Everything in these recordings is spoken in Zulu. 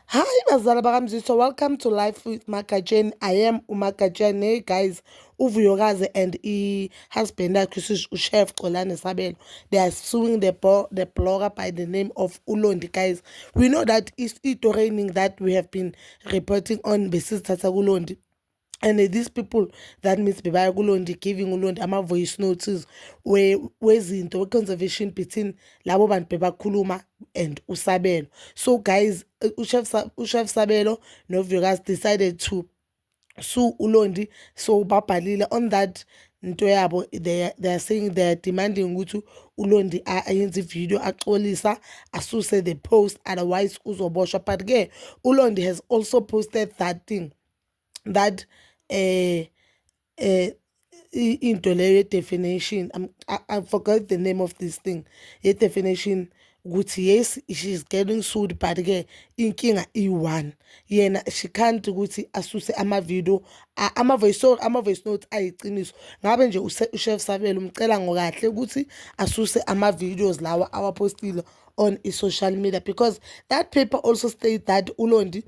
Hi bazala bakamziswa welcome to life with magatsheni i am umagatsheni hey guys uvuyokazi and i-husband yakhe ushef xolane sabelo they are suing the, the blogger by the name of ulondi guys we know that i-training that we have been reporting on besizithatha kulondi and these people that means bebaya kulondi giving ulondi ama-voice notes wezinto we we-conservation between labo bantu bebakhuluma and usabelo so guys uchef sabelo novukas decided to sue ulondi so babhalile on that nto yabo they, they are saying they are demanding ukuthi ulondi ayenze ivideo axolisa asuse the post otherwise uzoboshwa but ke ulondi has also posted that thing that eh eh into leyo ye definition I'm, I, I forgot the name of this thing ye definition ukuthi yes she's getting sued but ke inkinga i1 yena she can't ukuthi asuse ama video ama voice note ama voice note ayiqiniso ngabe nje ushef sabelo umcela ngokahle ukuthi asuse ama videos lawa awapostile on i social media because that paper also state that ulondi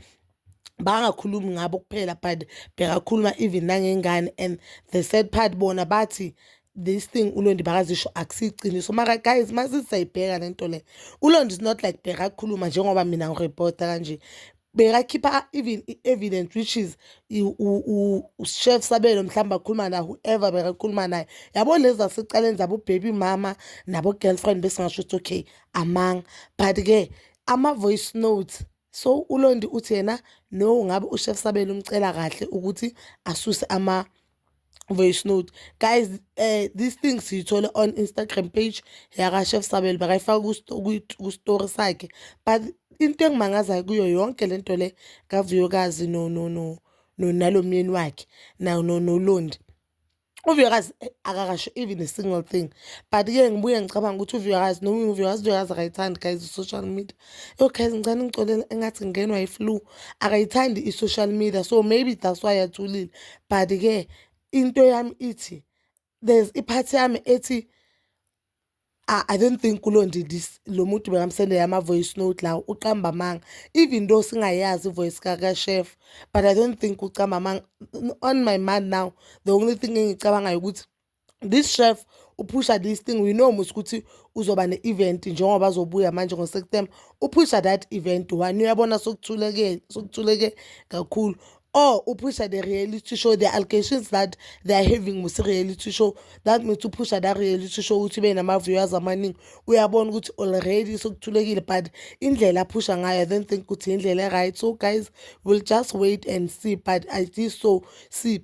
bangakhulumi ngabo kuphela but bekakhuluma even nangengane and the sad part bona bathi this thing ulondi bakazisho akusiyiqiniso mara guys masisayibheka le nto le ulondi is not like bekakhuluma njengoba mina ngirepota kanje bekakhipha even i-evidence which is ushef sabelo mhlawumbe akhuluma naye whoever bekakhuluma naye yabo lezi zasecaleni zabobaby mama nabo-girlfriend besingasho ukuthi okay amanga but-ke ama-voice notes So uLondi uthi yena no ngabe uShef Sabelo umcela kahle ukuthi asuse ama voice note guys uh, this thing siyithole on Instagram page yaka Chef Sabelo bakayifaka ku story sakhe but into engimangazayo kuyo yonke lento le kavuyokazi no no no no nalomyeni wakhe na no nolondi uvuyakazi eh, akakasho even a single thing but ke ngibuye ngicabanga ukuthi uvuyakazi noma uvuyakazi uvuyakazi akayithandi guys i-social media yo guys ngicane ngixolele engathi ngenwa yi-flu akayithandi i-social media so maybe that's why yathulile but ke into yami ithi there's iphathi yami ethi I, I don't think kulonje this lo muntu bekamsendela ama-voice note lawo uqamba amanga even though singayazi ivoice kakashef but i don't think ucamba amanga on my mind now the only thing engicabangayo ukuthi this chef uphusha this thing we know musi ukuthi uzoba ne-event njengoba azobuya manje ngoseptemba uphusha that event one uyabona sokuthuleke sokuthuleke kakhulu or oh, upusha the reality show the allegations that they are having with reality show that means upusha that reality show ukuthi ube nama-viewers amaningi uyabona ukuthi already sokuthulekile but indlela aphusha ngayo i don't think ukuthi indlela e-right so guys we'll just wait and see but i think so see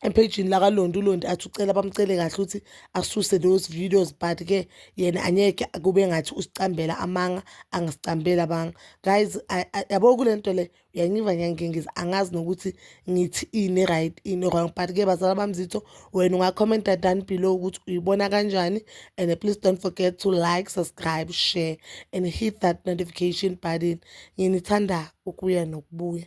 ephejini lakalondi ulondi athi ucela bamcele kahle ukuthi asuse those videos but ke yena anyeke kube ngathi usicambela amanga angisicambela banga guys yabo kule nto le uyangiva ngiyangengiza angazi nokuthi ngithi ini right ini wrong but ke bazala bamzitho wena ungacommenta down below ukuthi uyibona kanjani and please don't forget to like subscribe share and hit that notification button nginithanda ukuya nokubuya